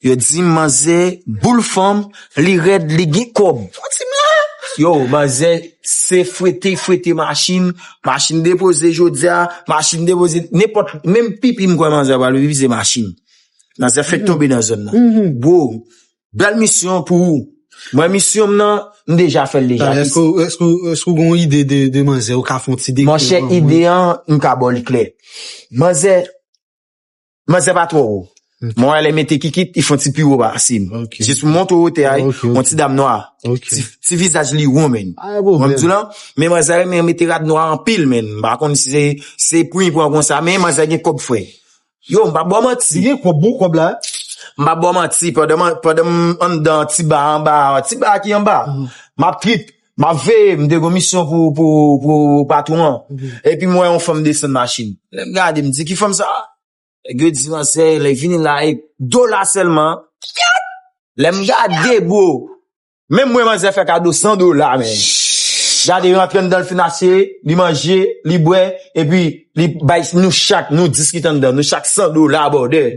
Yo dim manzè boul fanm li rèd li gen kòb ou dim la. Yo manzè se fwete fwete machin, machin depoze jodia, machin depoze nenpòt menm pipi m kwè manzè pral pipi se machin. Manzè fèk tonbe nan zòn nan. Bro bèl misyon pou ou mwen misyon m nan m deja fèl deja. Èske ou gen yon ide de manzè ou ka fon ti dekri pou nou. Monchè ide an m ka baw li klè. Manzè. Manzè pa twò wo. Mwen wè lè mete kikit, li fon ti pi wo pase m. Jis pou montre wotè a, yon ti dam nwa. Ti vizaj li won menn. Wè m di w lan? Men manzè renmen mete rad nwa anpil menn. M pa konn si se se pri pran konsa men manzè gen kòb frè. Yo, m pa ba w manti. Li gen kòb bon kòb la. M pa ba w manti pandan m anndan ti ba anba a, ti ba a ki anba a, m ap trip. Map veye, m te gon misyon pou pou patwon an, epi m wè yon fanm desann machin, lè m gade m di ki fanm sa, nèg yo di an se li vini la e dola sèlman, kyètt! lè m gade bro, menm mwen manzè fè kado 100 dola men, gade yo antre anndan l fin asire, li manje, li bwè, epi li bay nou chak nou 10 ki t anndan, nou chak 100 dola boo 2.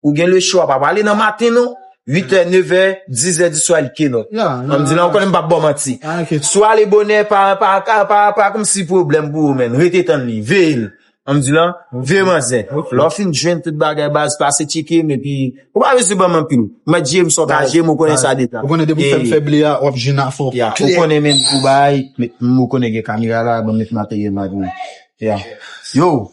Ou gen le chwa pa pale nan maten non. 8 è, 9 è, 10 è di swa li ke non. An m di la ou konnen m pa bon manti. Sou ale bonè pa kom si problem pou ou men. Rete tann li. Veye l. An m di la. Veye manzè. Lè w fin jwenn tout bagay baz pase tcheke m epi. Ou pa bezwen banm anpil. Mwen jye m sou ka jye m ou konnen sa detan. Ou konnen depi w fè m fè ble a wap jwenn afo. Ya. Ou konnen men pou bay. Ou konnen gen kamera la banm met materyèl la pou ou. Ya. Yo.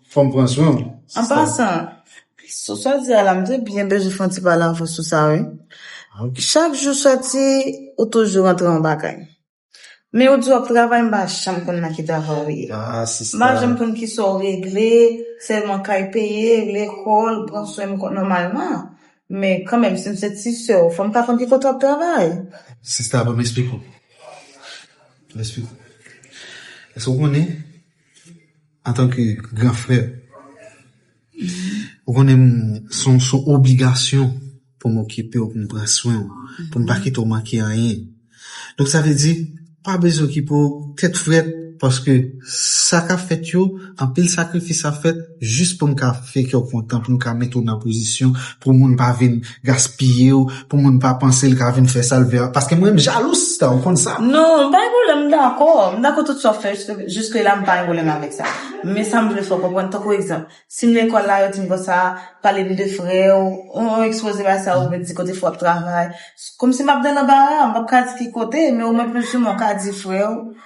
fòm pran swen w. An pasan, sou sa w di a la, m te byen bezwen fè yon ti pale avè w sou sa wi. Chak jou soti, ou toujou rantre yon bagay. Men ou di w ap travay, m pa janm konn nan ki travay ou ye. M pa janm konn ki sa w regle, sèlman kay peye, lekòl, pran swen m kon nòmalman. Men kanmenm, si m se ti sè w, fò m ta konn ki kote w ap travay. Sista, ban m esplike w. Ban m esplike w. Èske w konnen? Antan ke gran frè, ou konnen m son obligasyon pou m okipe w, pou m pran swen w, pou m pa kite w manke anyen. Donk sa vle di, pa bezwen okipe w tèt frèt paske sa k ap fèt yo, anpil sakrifis ap fèt. jis pou m ka fè kè w kontan, pou m ka mete w nan pozisyon pou moun pa vin gaspiye w, pou moun pa panse l ka vin fè sa l vle a. Paske mwen m jalou sista, ou konn sa. Non, m pa gen pwoblèm, m dakò. M dakò tout sa w fè jiske la, m pa gen pwoblèm avèk sa. Men sa m vle fè w konprann, tankou egzanp, si m lekòl la, yo di m konsa, pale m de frè w, on ekspoze bagay sa yo, yo di kote frè w ap travay. Kòmsi m ap de lanbara, m p ap ka di ki kote, men omwen plis ou mwen w ka di frè w.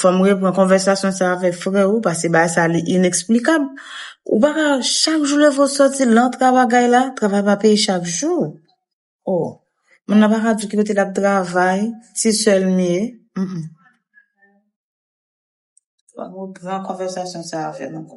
Fòm repran konvèsasyon sa avèk frè ou pase bagay sa li ineksplikab. Ou pa ka chak jou leve ou soti lan travagay la, travay pa peye chak jou. Oh, moun nan pa ka di ki kote lap travay, si sèl m ye. Fòm repran konvèsasyon sa avèl ankò.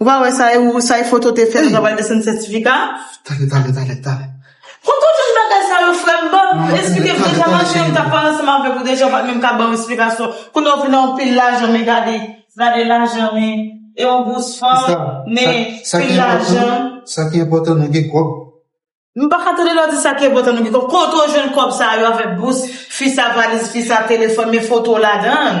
Ou pa wè sa e ou sa e foto te fè ou ta pral desann sètifika a? Tande tande tande tande. Pou tout yon bagay sa yo frèm banm esplike m deja manti yo m tap pale ansanm avèk ou deja ou pat menm ka banm esplikasyon kounye ou vin a anpil lajan men gade gade lajan men e yon gous fanm men pil lajan Sa ki enpòtan nou gen kòb. M paka tande lè wap di sa ki enpòtan nou gen kòb kote ou jwenn kòb sa yo avèk bous fi sa valiz fi sa telefòn men foto ladann.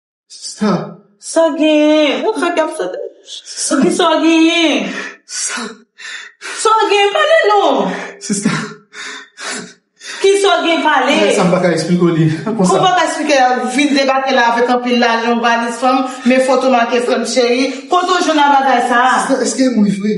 Sa. Sa genyen? Ou fè kèm sote. Sa. Ki sa genyen? Sa. Sa genyen? Pale non! Sista. Ki sa genyen? Pale! Mwen sa m pa ka esplike w li. Kon sa. Ou pa ka esplike l? Ou vin debake la avèk anpil lajan, yon valiz fanm, men foto make frè m cheri. Kote w jwenn abagay sa a? Sista, èske m ri vre?